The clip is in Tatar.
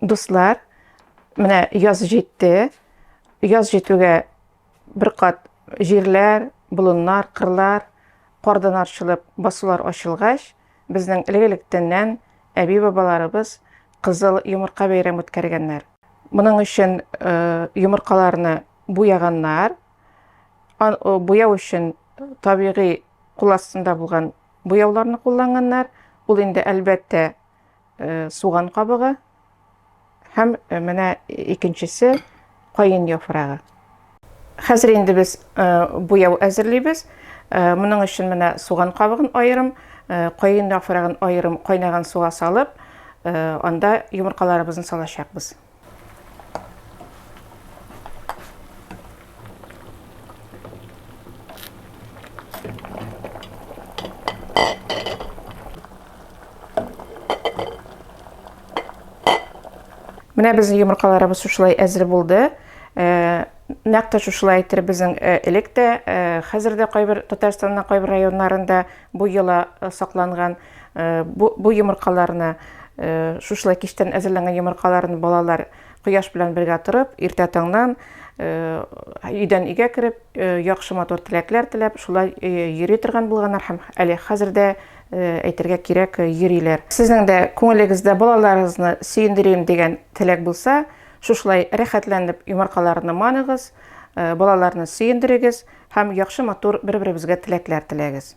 Дуслар, менә яз җитте. Яз җитүгә бер кат җирләр, болыннар, кырлар кардан арчылып басулар ачылгач, безнең элек-электәннән әби-бабаларыбыз кызыл йомырка бәйрәм үткәргәннәр. Моның өчен э, йомыркаларны буяганнар. Э, буяу өчен табигый кул астында булган буяуларны кулланганнар. Ул инде әлбәттә суган кабыгы һәм менә икенчесе каен яфрагы. Хәзер инде без буяу әзерлибез. Моның өчен менә суган кабыгын аерым, каен яфрагын аерым кайнаган суга салып, анда йомыркаларыбызны салачакбыз. Менә безнең йомыркаларыбыз шушылай әзер булды. Э, нәкъ тә шушылай әйтер безнең э, элек тә, э, хәзер дә кайбер Татарстанның кайбер районнарында бу йола сакланган. Бу, бу йомыркаларны, шушылай кичтән әзерләнгән йомыркаларны балалар кояш белән бергә торып, иртә таңнан өйдән өйгә кереп, яхшы матур теләкләр теләп, шулай йөри торган булганнар һәм әле хәзер дә әйтергә кирәк йөриләр. Сезнең дә күңелегездә балаларыгызны сөендерим дигән теләк булса, шушылай рәхәтләнеп йомыркаларны маныгыз, балаларны сөендерегез. Һәм яхшы матур бер-беребезгә теләкләр теләгез.